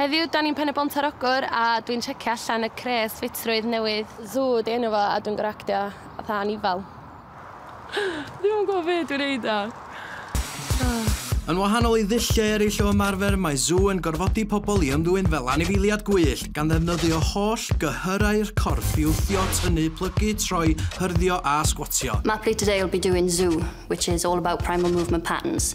Heddiw dan ni'n Pen-y-bont ar Ogwr a dwi'n checio allan y crês ffitrwydd newydd. Zoo ydi enw fo a dwi'n gor'o' actio fatha anifal. Dwi'm yn gwbo be' dwi'n neud nawr. Yn wahanol i ddulliau eraill o ymarfer, mae Zoo yn gorfodi pobl i ymddwyn fel anifeiliad gwyllt, gan ddefnyddio holl gyhyrau'r corff i wthio, tynnu, plygu, troi, hyrddio a sgwatio. Mathri today will be doing Zoo, which is all about primal movement patterns.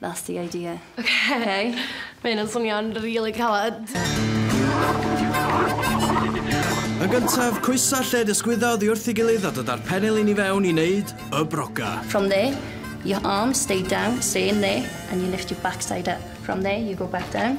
That's the idea. Ok. Mae hyn yn swnio'n rili caled. Yn gyntaf, coesa lled ysgwydda oddi wrth ei gilydd a dyda'r penelin i fewn i wneud y broga. From there, your arms stay down, stay in there, and you lift your backside up. From there, you go back down.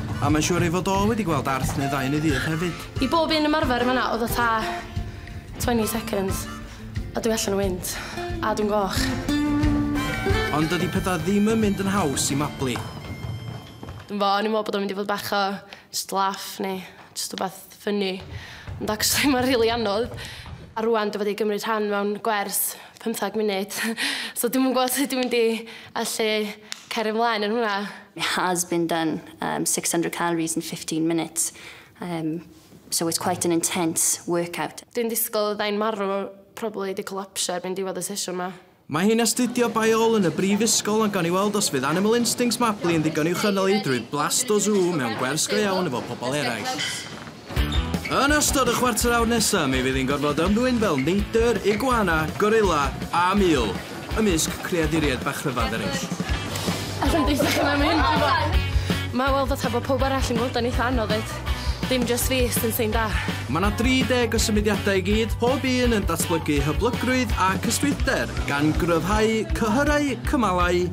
A mae'n siŵr ei fod o wedi gweld arth neu ddau yn ei ddydd hefyd. I bob un ymarfer yn fan'na oedd o ta 20 seconds a dwi allan o wynt a dwi'n goch. Ond dydi petha ddim yn mynd yn haws i Mabli. Dwi'm 'bo, o'n i'n me'wl bod o'n mynd i fod bach o jyst laff neu jyst wbath fyny. Ond actually mae'n rili anodd. A rwan dwi wedi gymryd rhan mewn gwers pymtheg munud. so dwi'm yn gwybod sut dwi'n mynd i allu cario ymlaen yn hwnna. It has been done um, 600 calories in 15 minutes. Um, so it's quite an intense workout. Dwi'n disgwyl fyddai'n marw, probably di collapsio erbyn diwedd y sesiwn ma. Mae hi'n astudio Biool yn y Brifysgol ond gawn ni weld os fydd Animal Instincts Mabli yn ddigon i'w chynnal hi drwy Blasto Zoo mewn gwers go iawn efo pobl eraill. Yn ystod y chwarter awr nesa mi fydd hi'n gorfod ymddwyn fel neidr, iguana, gorilla a mul, ymysg creaduriaid bach rhyfadd eraill. Alla i'm deutha chi mae'n mynd rhyfadd! Mae weld o ta bod pawb arall yn gweld o'n eitha anodd ddeud. Dim jyst fi sy'n syn da. Mae 'na 30 o symudiadau i gyd, pob un yn datblygu hyblygrwydd a cyswltder, gan gryfhau cyhyrau, cymalau,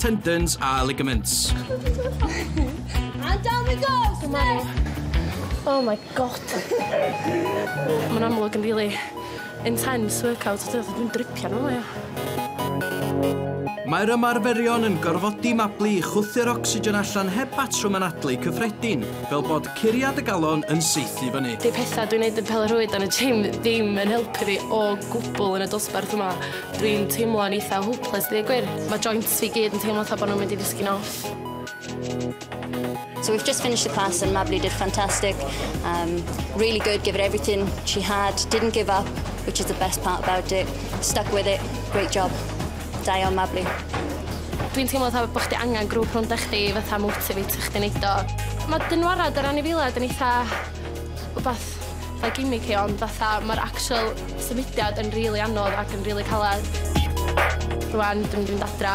tendons a ligaments. And down we go! Smash! Oh my God. Ma'n amlwg yn rili Intense workout ydi o, so dwi'n dripio arno fo ia. Mae'r ymarferion yn gorfodi Mabli i chwythu'r ocsigen allan heb batrwm anadlu cyffredin, fel bod curiad y galon yn saethu fyny. 'Di petha dwi'n neud yn pêl-rwyd yn y gym ddim yn helpu fi o gwbwl yn y dosbarth yma. Dwi'n teimlo'n eitha hopeless deud y gwir. Ma' joints fi gyd yn teimlo fatha bo' nw'n mynd i ddisgyn off. So we've just finished the class and Mabli did fantastic. Um, really good, give it everything she had, didn't give up, which is the best part about it. Stuck with it, great job. Da iawn Mabli. Dwi'n teimlo fatha bod chdi angen grŵp rhwng dech chdi fatha motivate chdi wneud o. Mae dynwarad yr anifiliad yn eitha rhywbeth fatha gimmicky ond fatha mae'r actual symudiad yn rili really anodd ac yn rili really caled. Rwan dwi'n mynd adra